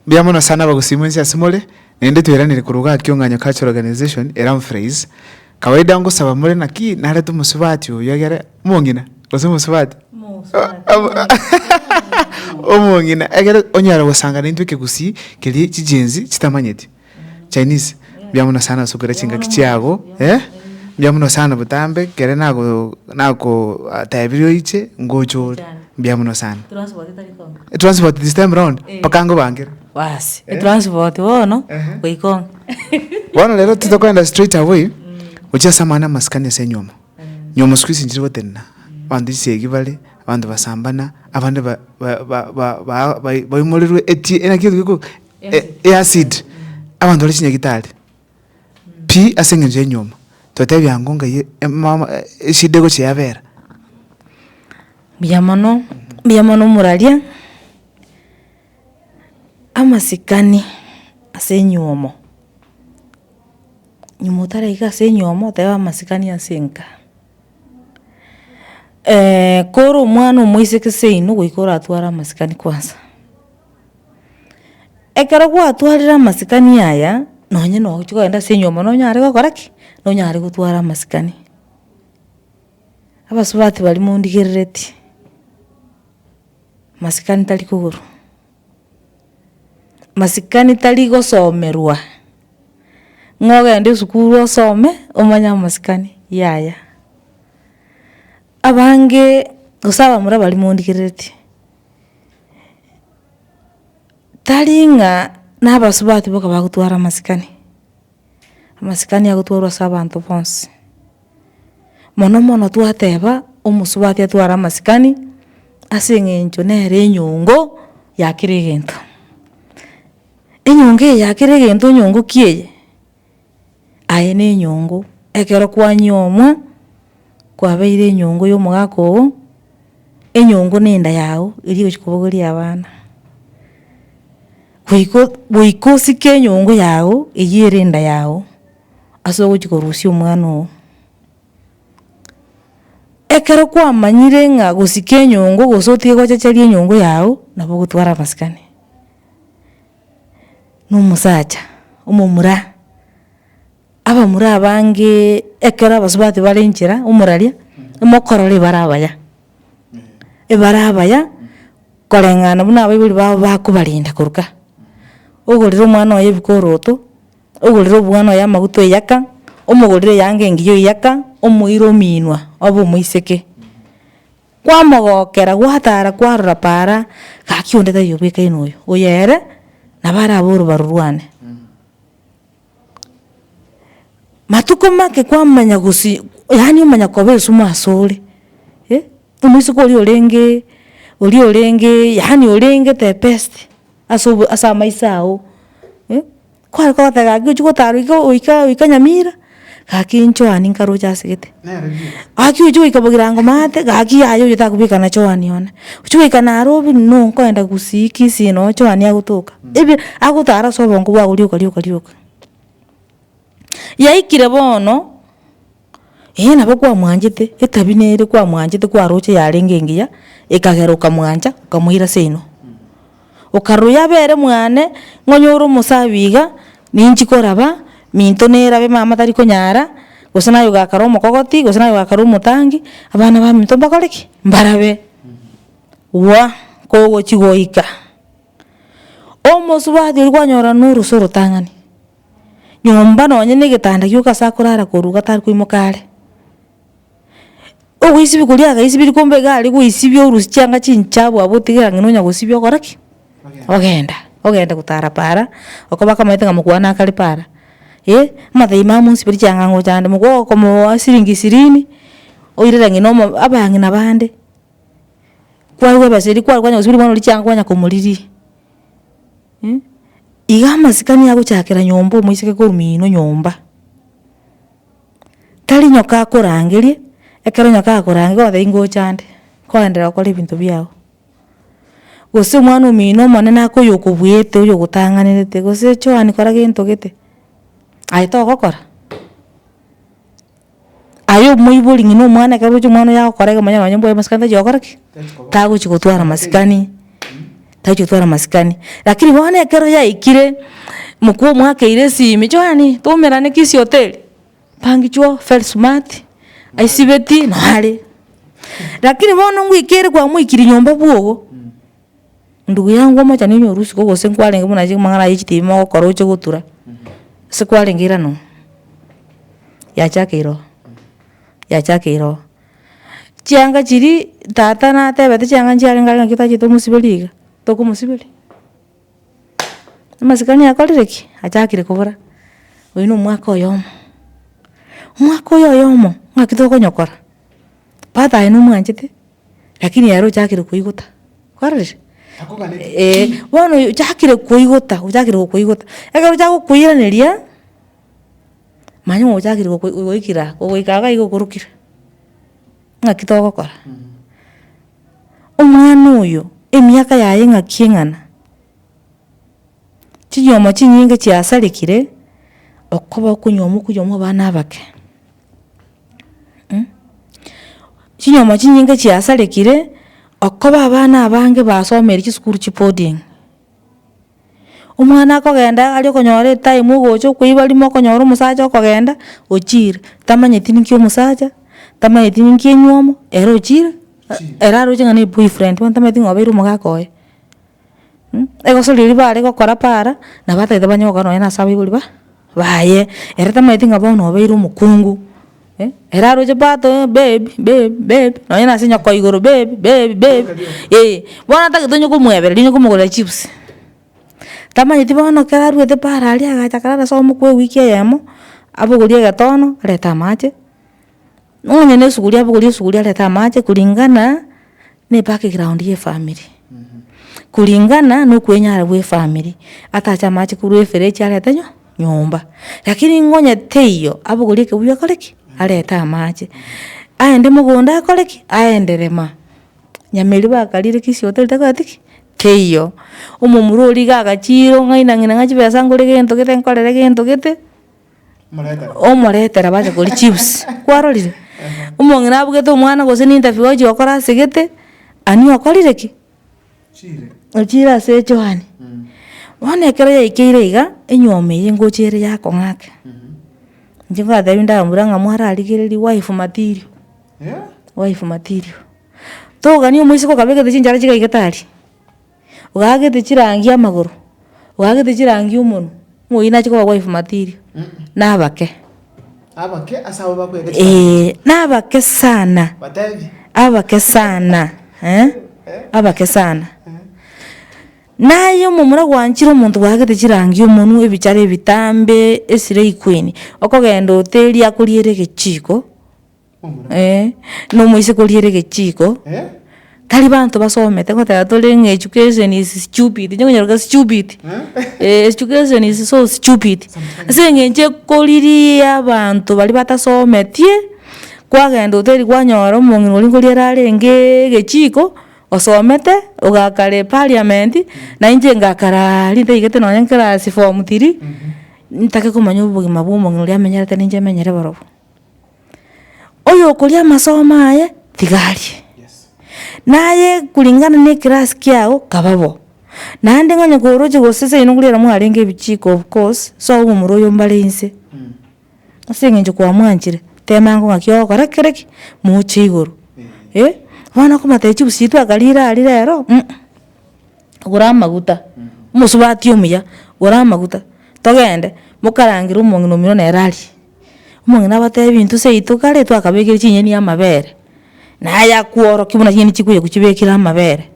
Mbuya mono sana abagusima ense ase more, naende tweranire korwa gaki ong'anyo Cultural Organization e Ramfreys. Kawaida ngosaba more naki narete omosubati oyo egere omong'ina gose omosubati? omong'ina egere onyare gosangana intwe ekegusii keria chigenzi chitamanyeti. Chinese, mbuya mono sana osokera chingaki chiago eh, mbuya mono sana botambe, kere nago nagotebirie oiche ngocha ore, mbuya mono sana. Transport this time round mpaka ngobankere. Baasi, etransport bono Ehe. goika onga. Bono rero titokoenda straight away gochia ase amang'ana amasikani ase nywomo. Nywomo siku hizi nchire gotenena, abanto chisegi bare, abanto basambana, abande ba- ba- ba- ba- ba- bai- baimorirwe eti- eh, naki etuko. E- eacid abanto bare chinyagitari pi ase eng'encho y'enyuoma totebia ng'o ngai e- emama eshida egochia yabera. Mbuya mono, mbuya mono moraria, amasikani ase enyuomo, nyuma otaraika ase enyuomo oteba amasikani ase enka. kore omwana omoiseke seino goika oratware amasikani kwansa. Ekero gwatwarire amasikani aya, nonye na ogochia kogenda ase enyomba nonyare gokora ki? Nonyare gotwara amasikani. Abasubati baria mondigereretie, masikani tari kogoro. masikani tari gosomerwa, ng'a ogende esukuru osome omanye amasikani, yaya. Abange gose abamura baria mondikerereti, tari ng'a na abasubati boka bagotwara amasikani, amasikani agotwarwa ase abanto bonsi. Mono mono twateba omosubati atware amasikani ase eng'encho nere enyongo ya kera egento. Enyongo eye ya kera egento enyongo ki eye? Aye ne enyongo ekero kwanyiomwa kwabeire enyongo ya omogaka ogo, enyongo ne enda yago eri egochi kobogoria abana. Goika goika osike enyongo yago eywo ere enda yago. ase ogochia korusia omwana oo. Ekero kwamanyire ng'a gosika enyongo gose otige gochacharia enyongo yago, nabo ogotware amasikani, na omosacha, omomura, abamura abange ekero abasubati bare inchera, omoraria, mokorora ebare abaya, ebare abaya, koreng'ana buna abaibori babo bakobarinda korwa ka, ogorera omwana oye ebi koroto. Ogorire obwana oye amaguta oyaka, omogorire eanga engiya oyaka, omoire ominwa obe omoiseke. Kwamogokera gwatara kwarora para, gaki onde tari obwekaine oyo, oyo ere nabo arabe orobaru rwane. Matuko make kwamanya gosi yaani omanya koba esumu ase ore eh, omoiseke oria orenge oria orenge yaani orenge the best ase obo ase amaiso ao eh. kware kotega gaki ochi gotarwa iga goika goika nyamira, gaki inchoani nkaroche ase gete. Gaki ochi goika bogirango maate, gaki yaya oyo takobeka na choani one. Ochi goika naro obi buna no nkoenda gusii kisii no choani agotoka. Ebi agotara ase obongo bwago rioka rioka rioka. Yaikire bono. Eeh nabo kwamwanchete, etabia nere kwamwanchete kwaroche yarenge engiya, ekagera okamwancha okamoira ase inwe. Okarora oyo abe ere mwane, nonya ore omosabi iga, ninki koraba, minto nerabe mama tari konyara, gose naye ogakare omokogoti, gose naye ogakare omotangi, abana ba minto mbakore ki? Mbarabe. Gwa kogochi goika, omosubati oria kwanyora na oroso orotang'ani. nyomba nonye na egetanda gioka ase akorara koruga tari koimoka are. Ogoisibia koria agaisibirie kombe iga aria goisibia orusie chianga chinchabu abwo otigera ng'a nonya gosibia ogora ki? Ogenda, ogenda gotara paara, oko bakamaete ng'a mokwane akare paara, eh, amathaai mao mosiberie chiang'ango chande, mokobaa okomoa siringi ishirini, oirere ng'ina omo abang'ina bande, kwarwa ebesa eria kwarwa kwanya gosibiria omwana oria chianga kwanya komoriria. Iga amasikani agochakera nyomba omoiseke korwa ino nyomba, tari nyoka akorangerie, ekero nyoka akorangire okoba tari ngocha ande, koenderea gokora ebinto biago. Gose omwana omino omonene ake oyokobuete oyogotang'anerete gose Joan kora gento gete, aye togokora. Aye omoibori ng'a nomwana ekero oroche omwana oye agokora egemo onye nonye mbwaye masikani tachia gokora ki? Tagochi gotwara masikani, tachi gotwara masikani. Lakini bono ekero yaikire, mokwo omwakeire esimi, johani twaumerane kisii hoteli, bangi chuo very smart, aisibeti, nare. Lakini bono ngoika ere kwamoikirie nyomba bwogo. Ndugu yangu omochenu onye orwe isiko gose nkwarenge buna chimang'ana aye chitibi mogokora oche gotura, ase kwarenge irano oo, yachakeire oo, yachakeire oo. Chianga chiria tata natebete chianga nchiarenge aye naki tachete omosiberia iga, tokomosiberia. Amasikani akorire ki? Achakire kobora, oyu nomwaka oyomo, omwaka oyo oyomo, ng'aki tokonyokora. Father aye nomwanchete, lakini ere ochakire koigota, kwarorire? Akogania Eeh, ki? bono oyo ochakire koigota, ochakire gokoigota, ekero ochaka gokoiraneria, manya ng'a ochakire gokoi goikire aa, ogoika iga igo okorokire, ng'aki togokora. Omwana oyo, emiaka yaye ng'aki eng'ana, chinyomo chinyinge chiasarekire, okoba okonywomoku yomo abana abake. Chinyomo chinyinge chiasarekire, okoba abana abange basomire chisukuru chia boarding, omwana akogenda aria okonyora etime ogocha okoiba rimo okonyora omosacha okogenda ochire, tamanyeti ninki omosacha, tamanyeti ninki enywomo, ere ochire, ere aroche ng'a ne eboyfriend bono tamanyeti ng'a obeire omogaka oye. mh, egosori eria bare gokora para, nabo batagete banye gokora nonye na ase abaibori ba baye, ere tamaeti ng'a bono obeire omokungu, eh, ere aroche pato eh, babe, babe, babe, nonye na ase nyoko igoro babe, babe, babe, eh, bono atagete onye komwebereri onye komogorera chips, tamanyeti bono ekero aruete para aria agacha akarara ase omokuya ewiki eyemo, abogorie egetono arete amache. Nonya ne esuguria abogori esuguria arete amache kuringana ne background ye efamiri, kuringana no okwenyara gwe efamiri, atache amache korwa eferechi arete nyo nyomba. Rakini nonya teiyo, abogori ekeguya akore ki? Arete amache, aende mogondo akore ki? Aende rema. Nyameri bakarire kisii hotel takoreti ki? Teiyo. Omomura origa agachiiro ng'aina ng'ina ng'a chibesa ngore gento gete nkorere gento gete. Omoretera bache koria chips kwarorire? Omong'ina abugete omwana gose ninterview gochia gokora asegete, ani okorire ki? Ochire ase echoani. Bono ekero yaikeire iga, enyiomo eye ngocha ere yakong'ake. Inche nkatebi ndambura ng'a mwararigereria wife material, wife material. Togani omoiseke okabegete chinchara chigaigete aria. ogagete chirangi amagoro, ogagete chirangi omonwe, omoyio nache koba wife material, nabake. Abake ase abwo bakwete chibando Eeh, chiria. nabake sana, Batebi. abake sana, eh, abake sana. Naye omomura gwanchire omonto bwagete chirangi omonwe, ebichara ebitambe, eslay queen, okogenda oteria akoriere egechiko. Ee, na omoiseke oria ere gechiiko, tari banto basomete goteba tore ng'a education is stupid, inche nkonyeroka stupid, eh education is so stupid. Ase eng'encho ekoriria abanto baria batasometie, kwagenda hoteli kwanyora omong'ina oria nkoria arareenge egechiiko, osomete, ogakare parliament, na inche ngakaraaa rinde naigete nonye nkerasi form three, ntake komanya obogima bwa omong'ina oria amenyerete na inche menyere borobwo. Oyokoria amasomo aye tiga arie, naye kulingana ne class kiago kaba bo. Naende onye koroche gose seino korende mwarenge ebichiko of course so omomura oyo mbare inse. Ase eng'encho kwa mwanchire temango ng'aki ogokora kere ki moche igoro. Eh bono okomotebi chipusi chiaito akarire aria rero um gora amaguta, omosubati omuya gora amaguta togende mokarangere omong'ina omino nere arie. Omong'ina abatebi intwe seito kare twakabekire chinyeni amabere, naye akworokia buna chinyeni chikobekire amabere.